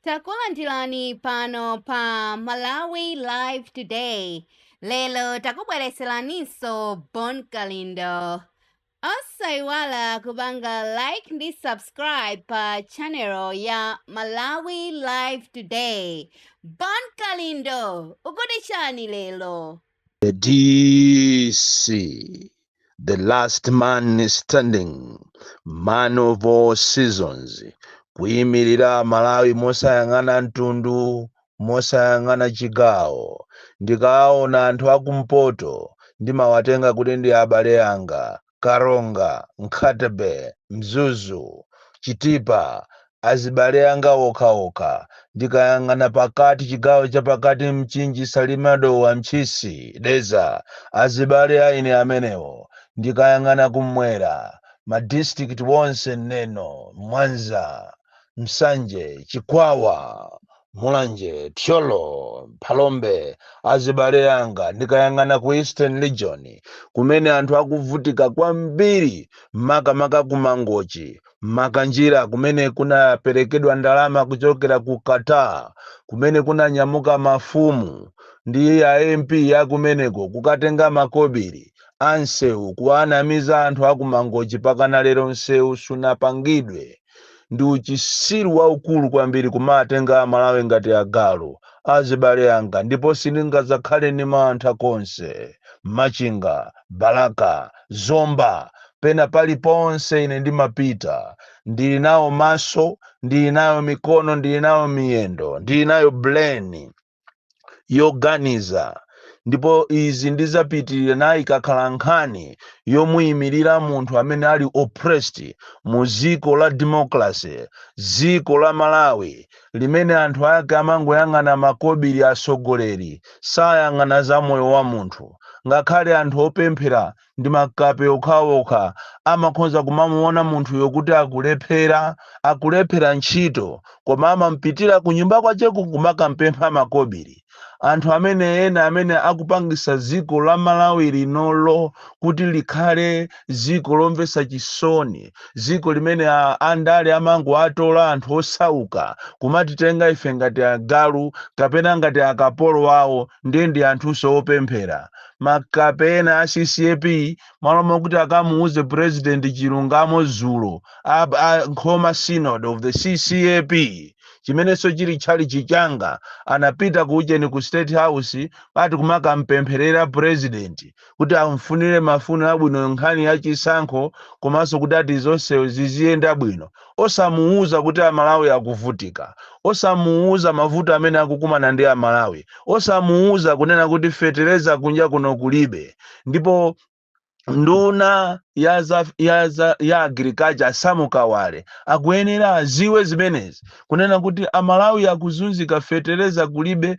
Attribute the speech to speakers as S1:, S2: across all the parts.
S1: takulandirani pano pa malawi live today lero takubweretseraninso bon kalindo osayiwala kupanga like ndi subscribe pa channel ya malawi live today bon kalindo mukuti chani lero the
S2: DC, the last man standing, man of all seasons, kuyimirira Malawi mosayang'ana mtundu, mosayang'ana chigawo. Ndikaona anthu akumpoto ndimawatenga kuti ndi abale anga, Karonga, Nkhata-bay, Mzuzu, Chitipa, azibale anga okha okha, ndikayang'ana pakati chigawo chapakati Mchinji, Salima, Dowa, Ntchisi, Dedza, azibale a ine amenewo, ndikayang'ana kummwera ma district wonse Neno, Mwanza. Nsanje, Chikwawa, Mulanje, Thyolo, Phalombe, azibale anga ndikayang'ana ku Eastern Region kumene anthu akuvutika kwambiri makamaka ku Mangochi, Makanjira kumene kunaperekedwa ndalama kuchokera ku Qatar kumene kunanyamuka mafumu ndi a MP akumeneko kukatenga makobiri ansewu kuwanamiza anthu aku Mangochi pakana lero nsewu sunapangidwe. ndi uchisiru waukulu kwambiri kumatenga amalawi ngati agalu azibale anga ndipo sindingazakhale ndi mantha konse machinga balaka zomba pena paliponse ine ndimapita ndili nawo maso ndili nayo mikono ndili nayo miyendo ndili nayo brain yoganiza ndipo izi ndizapitirira nayo ikakhala nkhani yomuyimirira munthu amene ali oppressed mu dziko la democracy dziko la malawi limene anthu ake amangoyang'ana makobiri atsogoleri sayang'ana za moyo wa munthu ngakhale anthu opemphera ndi makape okhaokha amakhonza kumamuona munthuyo kuti akulephera akulephera ntchito koma amampitira ku nyumba kwacheko kumakampempha makobiri anthu amene ena amene akupangisa dziko la malawi linolo kuti likhale dziko lomvetsa chisoni dziko limene a- andale amangoatola anthu osauka kumatitenga ife ngati agalu kapena ngati akapolo wawo ndiye ndi anthunso opemphera makape ena a ccap mmalo mokuti akamuuze president chilungamo dzulo a, a nkhoma synod of the ccap chimenenso chili tchalichi changa anapita ku ujeni ku state house ati kumakampempherera president kuti amfunire mafuno abwino nkhani ya chisankho komanso kuti ati zonse ziziyenda bwino osamuuza kuti a Malawi akuvutika, osamuuza mavuto amene akukumana ndi a Malawi, osamuuza kunena kuti fetereza kunja kuno kulibe ndipo nduna ya za, ya za, ya agriculture Samu Kawale akuyenera aziwe zimenezi kunena kuti a Malawi akuzunzika fetereza kulibe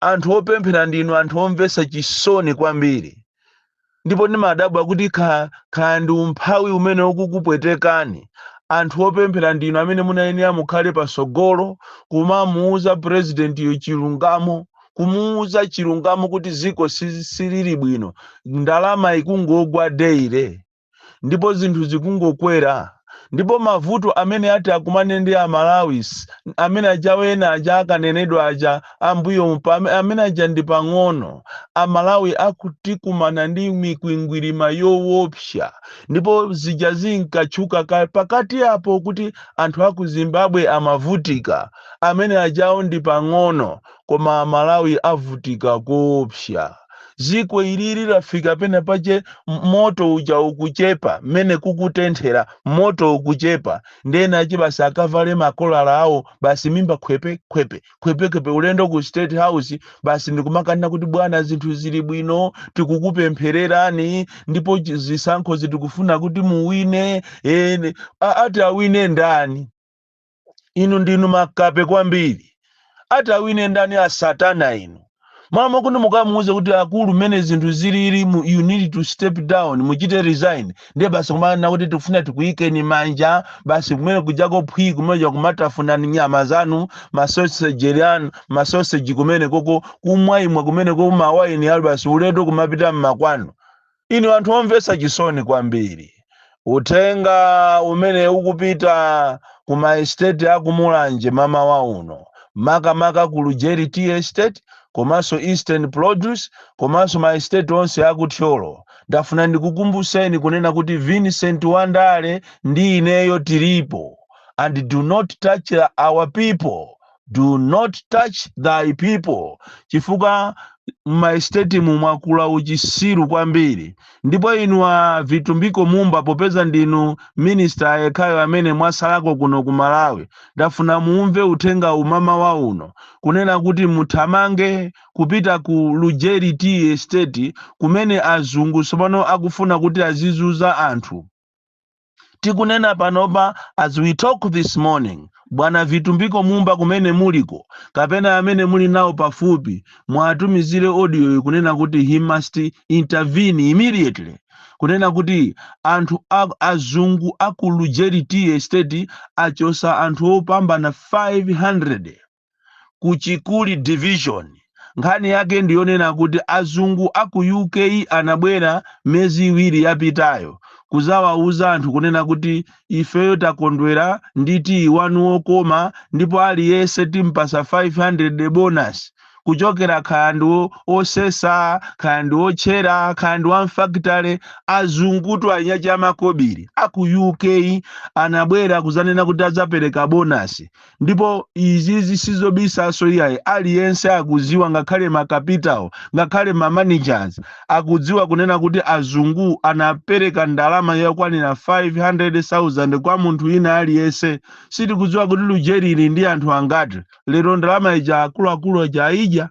S2: anthu opemphera ndinu anthu omvetsa chisoni kwambiri ndipo ndimadabwa kuti ka- kaya ndi umphawi umene ukukupwetekani anthu opemphera ndinu amene munayenera mukhale patsogolo kumamuuza purezidentiyo chilungamo kumuuza chilungamo kuti ziko si- silili bwino ndalama ikungogwa deire ndipo zinthu zikungokwera ndipo mavuto amene ati akumane ndi amalawi amene ajawo ena aja akanenedwa aja ambuyo amene aja ndi pang'ono amalawi akutikumana ndi mikwingwirima yowopsa ndipo zija zinkatchuka pakati apo kuti anthu aku zimbabwe amavutika amene ajawo ndi pang'ono koma amalawi avutika koopsa ziko ilili lafika pena pache m- moto uja ukuchepa mmene kukutenthera moto ukuchepa nde wina achi basi akavale makolala awo basi mimba khwepe khwepe khwepe khwepe ulendo ku state house basi ndikumakanena kuti bwana zinthu zili bwino tikukupemphererani ndipo chi- zisankho zi tikufuna kuti muwine eh, ni- a- ati awine ndani inu ndinu makape kwambiri ati awine ndani asatana inu mama kuti mukamuuze kuti akulu mmene zinthu zilili mu- you need to step down muchite resign ndiye basi kumanena kuti tikufuna tikuyikeni manja basi kumene kujako phwi kumeja kumatafuna nyama zanu masoseji anu masoseji kumene koko kumwaimwa kumene koko mawaini ayi basi ulendo kumapita mmakwanu inu anthu omvetsa chisoni kwambiri uthenga umene ukupita ku maestate akumulanje mamawa uno makamaka ku lujeri tea estate komanso eastern produce komanso maestate onse akuthyolo ndafuna ndikukumbuseni kunena kuti vincent wandale ndi ineyo tilipo and do not touch our people do not touch thy people chifukwa m'maesitetimu mwakula uchisiru kwambiri ndipo inu a vitumbiko mumba popeza ndinu minisita yekhayo amene mwasalako kuno ku malawi ndafuna muumve uthenga wa mamawa uno kunena kuti muthamange kupita ku lujeri tea estate kumene azungu tsopano akufuna kuti azizunza anthu tikunena panopa as we talk this morning bwana vitumbiko mumba kumene muliko kapena amene muli nawo pafupi muwatumizire audio kunena kuti he must intervene immediately kunena kuti anthu a- azungu aku lujeri tea estate achosa anthu opambana 500 ku chikuli division nkhani yake ndiyonena kuti azungu a ku uk anabwera miyezi iwiri yapitayo kuzawauza anthu kunena kuti ifeyo takondwera ndi tiyi wanu wokoma ndipo aliyense timpasa 500 bonus kuchokera kaya ndi wo- osesa kaya ndi otchera kaya ndi wamfakitale azungutu aja amakobiri a ku uk anabwera kuzanena kuti adzapereka bonus ndipo izizi sizobisaso iyayi aliyense akuziwa ngakhale makapitawo ngakhale ma managers akudziwa kunena kuti azungu anapereka ndalama yokwanira 500,000 kwa munthu wina aliyense sitikudziwa kuti lujeri ili ndi anthu angati lero ndalama ija akuluakulu aja aidya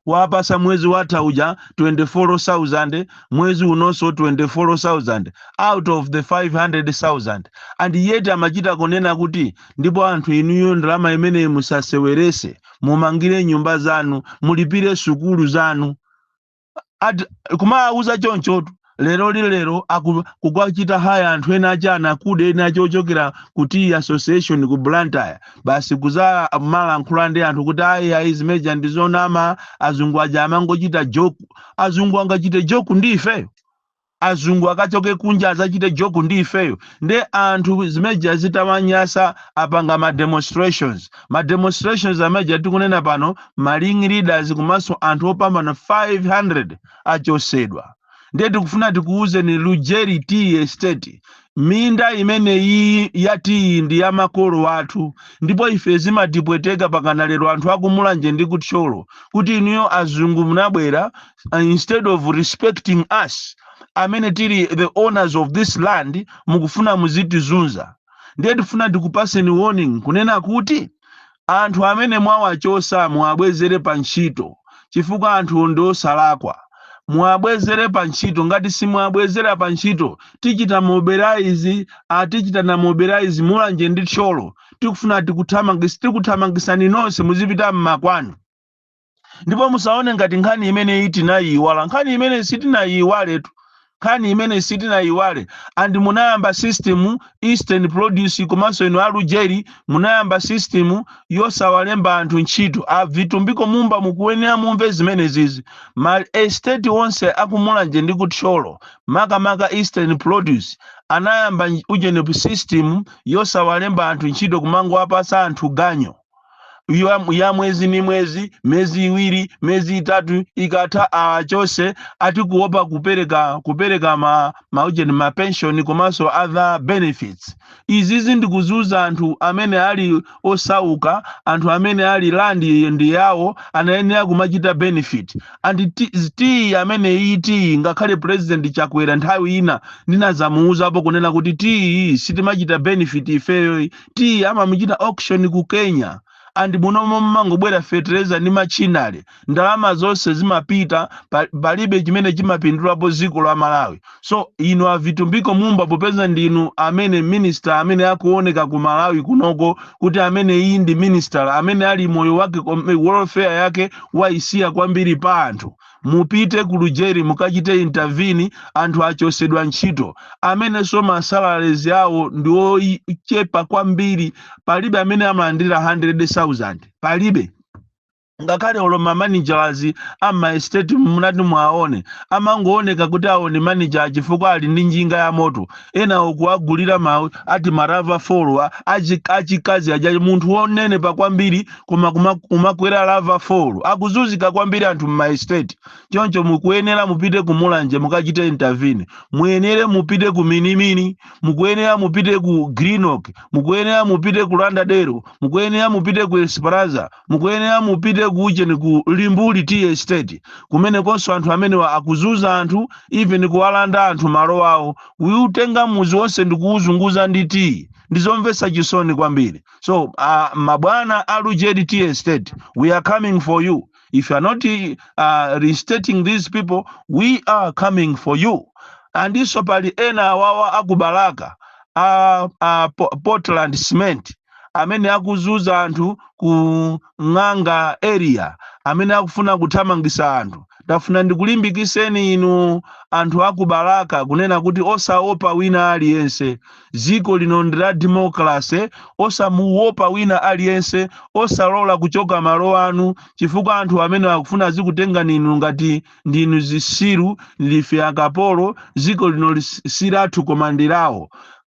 S2: awapasa mwezi watha uja 24,000 mwezi unonso 24,000 out of the 500,000 and yet amachita kunena kuti ndipo anthu inuyo ndalama imeneyi musasewerese mumangire nyumba zanu mulipire sukulu zanu Ad- kumawauza chonchotu lero lino lero aku kukwachita haya anthu ena ake akuda ena ake ochokera ku tea association ku blantyre basi kuzamalankhula ndi anthu kuti ayi ayi zimeja ndi zonama azungu aja amangochita joke azungu angachite joke ndi ifeyo azungu akachoke kunja azachite joke ndi ifeyo nde anthu zimeja zitawanyasa apanga ma demonstrations ma demonstrations ameja tikunena pano ma ring leaders komanso anthu opambana 500 achosedwa ndiye tikufuna tikuwuzeni lujeri tea estate minda imene iyi yatiyi ndi ya makolo athu ndipo ife zimatipweteka pakana lero anthu akumulanje ndi kuthyolo kuti inuyo azungu munabwera uh, instead of respecting us amene tili the owners of this land mukufuna muzitizunza ndiye tifuna tikupaseni warning kunena kuti Anthu amene mwawachosa muwabwezere pa ntchito chifukwa anthuwo ndi osalakwa. Muwabwezere pa ntchito ngati simuwabwezera pa ntchito tichita mobilize a tichitana mobilize Mulanje ndi Thyolo tikufuna tikuthamangitsi tikuthamangisani nonse muzipita mmakwanu. ndipo musaone ngati nkhani imeneyi tinayiiwala nkhani imeneyi sitinayiiwaletu nkhani imeneyi sitinayiiwale and munayamba system eastern produce komanso inu alujeri munayamba system yosawalemba anthu ntchito a Vitumbiko Mumba mukuyenera mumve zimenezizi ma estate onse aku Mulanje ndi ku Thyolo makamaka eastern produce anayamba nj- ujeni system yosawalemba anthu ntchito kumangowapasa anthu ganyo ya mwezi ni mwezi miyezi iwiri miyezi itatu ikatha achose ati kuopa kupereka kupereka ma maujeni ma pension komanso other benefits izizi ndikuzunza anthu amene ali osauka anthu amene ali land ndi yawo anayenera kumachita benefit and tiyi amene iyi tiyi ngakhale president chakwera nthawi ina ndinazamuuzapo kunena kuti tiyi sitimachita benefit ifeyo tea amamuchita auction ku Kenya and munomo mumangobwera fertilizer ndi machinery ndalama zonse zimapita pa- palibe chimene chimapindulapo dziko la Malawi so inu a Vitumbiko Mumba popeza ndinu amene minister amene akuoneka ku Malawi kunoko kuti amene iyi ndi minister amene ali moyo wake kom- welfare yake waisiya kwambiri pa anthu mupite ku lujeri mukachite intervene anthu achosedwa ntchito amenenso masalaries awo ndi ochepa kwambiri palibe amene amalandira 100000 palibe ngakhale olo mamanagers amaestate munati mwaone amangooneka kuti awo ndi manager chifukwa ali ndi njinga ya moto enawo kuwagulira mawu ati ma Ravor 4 a achikazi aja munthu wonenepa kwambiri koma kuma- kumakwera Ravor 4 akuzunzika kwambiri anthu mmaestate choncho mukuyenera mupite ku mulanje mukachite intervene muyenere mupite ku minimini mukuyenera mupite ku Glenorchy mukuyenera mupite ku Lauderdale mukuyenera mupite ku esperanza mukuyenera mupite ku ujeni ku Limbuli tea estate kumenekonso anthu amenewa akuzunza anthu even kuwalanda anthu malo awo kuutenga muzi wonse ndikuwuzunguza ndi tiyi ndizomvetsa chisoni kwambiri So, uh, Mabwana Alujedi T Estate, we are coming for you. If you are not uh, restating these people, we are coming for you. And this pali ena awawa akubalaka uh, uh, Portland cement amene akuzuza anthu ku Ng'anga area amene akufuna kuthamangisa anthu tafuna ndikulimbikiseni inu anthu aku Balaka kunena kuti osaopa wina aliyense ziko lino ndi la democracy osamuopa wina aliyense osalola kuchoka malo anu chifukwa anthu amenewa akufuna azikutengani inu ngati ndinu zisiru ife akapolo ziko lino lisali lathu koma ndi lawo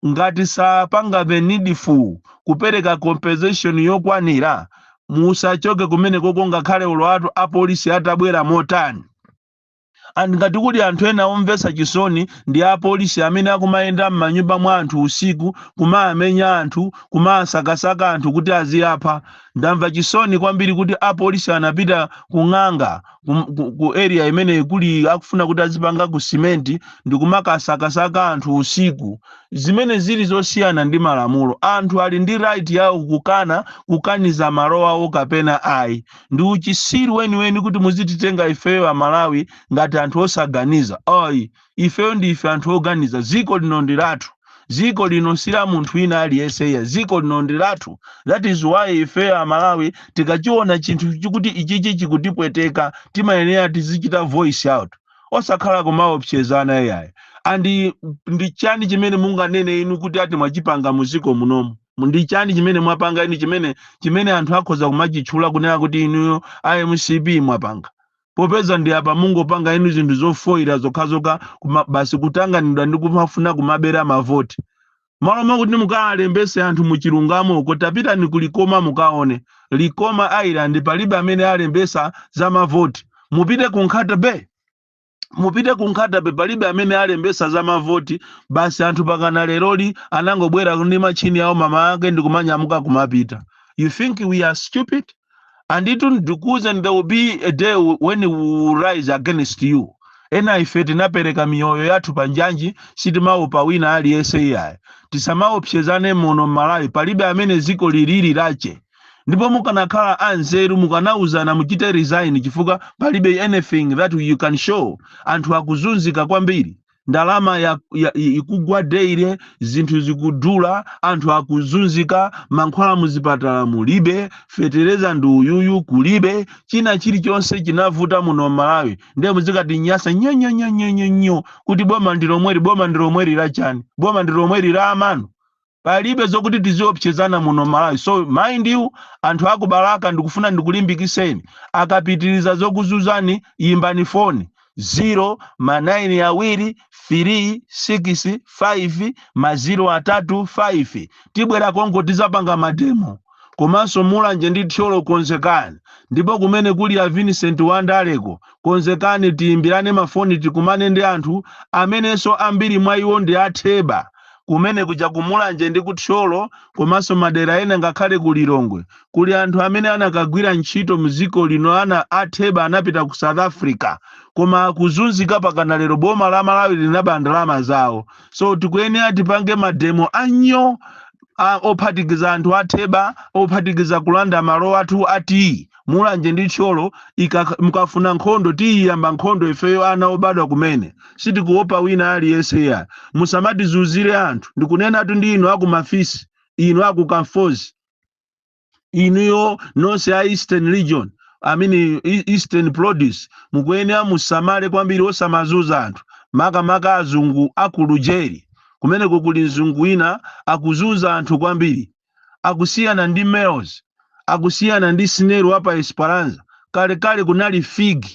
S2: Ngati sapanga the needful kupereka compensation yokwanira, musachoke kumenekoko ngakhale olo atu apolisi atabwera motani. And ngati kuli anthu ena omvetsa chisoni ndi apolisi amene akumayenda mmanyumba mwa anthu usiku kumamenya anthu, kumasakasaka anthu kuti aziwapha. Ndamva chisoni kwambiri kuti apolisi anapita ku ng'anga kum- ku, ku area imene kuli akufuna kuti azipanga ku simenti ndikumakasakasaka anthu usiku zimene zili zosiyana ndi malamulo anthu ali ndi right yawo kukana kukaniza malo awo kapena ayi ndi uchitsiru weniweni kuti muzititenga ifeyo amalawi ngati anthu osaganiza ayi ifeyo ndife anthu oganiza dziko lino ndi lathu dziko lino si la munthu wina aliyense iyayi dziko lino ndi lathu that is why ifeyo amalawi tikachiona chinthu chikuti ichichi chikutipweteka timayenera tizichita voice out osakhala kumaopsezana iyayi andi ndi chani chimene munganene inu kuti ati mwachipanga muziko munomu ndi chani chimene mwapanga inu chimene anthu akhoza kumachitchula kunena kuti inuyo a mcp mwapanga popeza ndi apa mungopanga inu zinthu zofoyira zokhazokha basi kutanganidwa ndi kumafuna kumabera mavoti malo mwakuti mukalembetse anthu muchilungamo uko tapitani ku likoma mukaone likoma island palibe amene alembetsa za mavoti mupite ku nkhata bay mupite ku nkhata bay palibe amene alembetsa za mavoti basi anthu pakana leroli anangobwera ndi machini awo mama ake ndi kumanyamuka kumapita you think we are stupid and it will because and there will be a day when we will rise against you ena ife tinapereka miyoyo yathu pa njanji sitimaopa wina aliyense iyayi tisamaopsezane muno m'malawi palibe amene dziko lili lake ndipo mukanakhala anzeru mukanauzana muchite resign chifukwa palibe anything that you can show anthu akuzunzika kwambiri ndalama ya, ya, ikugwa daily zinthu zikudula anthu akuzunzika mankhwala muzipatala mulibe fetereza ndi uyuyu kulibe china chilichonse chinavuta muno malawi ndiye muzikati nyasa nyonyonyonyonyo kuti boma ndilomweri boma ndilomweri lachani boma ndilomweri la amanu palibe zokuti tiziopsezana muno malawi so mind you anthu aku balaka ndikufuna ndikulimbikiseni akapitiriza zokuzunzani yimbani foni 0 ma 9 awiri 3 6 5 ma 0 atatu 5 tibwera konko tizapanga mademo komanso mulanje ndi thyolo konzekani ndipo kumene kuli a vincent wandaleko konzekani tiyimbirane mafoni tikumane ndi anthu amenenso ambiri mwa iwo ndi atheba Kumene kuja ku Mulanje ndi ku Thyolo komanso madera ena ngakhale ku Lilongwe kuli anthu amene anakagwira ntchito mdziko lino ana a Theba anapita ku South Africa koma akuzunzika pakana lero boma la Malawi linaba ndalama zawo so tikuyenera tipange mademo a nyo a ophatikiza anthu a Theba ophatikiza kulanda malo athu a tiyi mulanje ndi thyolo mukafuna nkhondo tiyiyamba nkhondo ifeyo ana obadwa kumene sitikuopa wina aliyense iyayi musamatizuzire anthu ndikunenatu ndi inu aku mafisi inu aku kamfozi inuyo nonse a eastern region i mean eastern produce mukuyenera musamale kwambiri osamazuza anthu makamaka azungu aku lujeri kumeneko kuli mzungu wina akuzuza anthu kwambiri akusiyana ndi Melrose, akusiyana ndi Snell wa pa Esperanza. Kalekale kunali Fig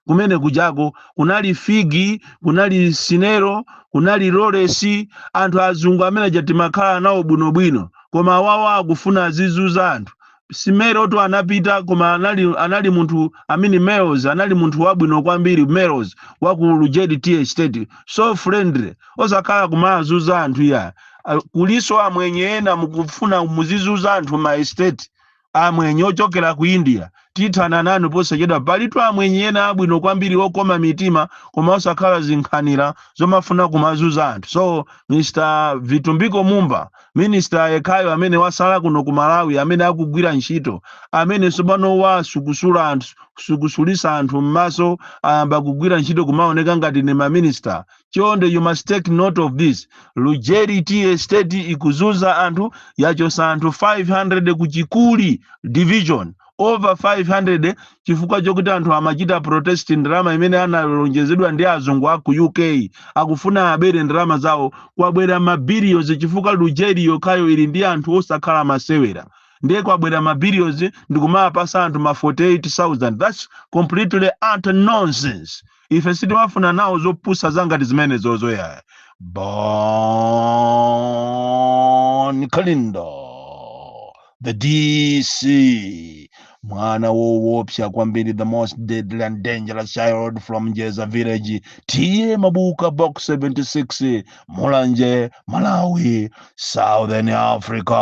S2: kumene kujako, kunali Fig, kunali Snell, kunali Lawrence, anthu azungu amene aja timakhala nawo bwinobwino, koma awawa akufuna azizuza anthu. Simelotu anapita koma anali, anali munthu I mean Melrose anali munthu wabwino kwambiri Melrose wa ku Lujeri Tea Estate, so friendly, osakhala kumazuza anthu iyayi Ah, kuliso amwenye ena mukufuna muzizuza anthu ma estate amwenye ochokera ku india tithana nanu posachedwa palitu amwenye ena abwino kwambiri okoma mitima koma osakhala zinkhanira zomafuna kumazuza anthu so mr vitumbiko mumba minista yekhayo amene wasala kuno ku malawi amene akugwira ntchito amene tsopano wasukusulisa anthu m'maso ayamba kugwira ntchito kumaoneka ngati ni maminista chonde you must take note of this lujeri tea estate ikuzuza anthu yachosa anthu 500 ku chikuli division over 500 chifukwa chokuti anthu amachita protest ndalama imene analonjezedwa ndi azungu aku uk akufuna abere ndalama zawo kwabwera mabilions chifukwa lujeri yokhayo ili ndi anthu osakhala masewera ndiye kwabwera mabilions ndikumapasa anthu ma 48000 thats completely utter nonsense ife sitimafuna nawo zopusa zangati zimenezozo iyayi bon kalindo the dc mwana wowopsa kwambiri the most deadly and dangerous child from njeza village t/a mabuka box 76 mulanje malawi southern africa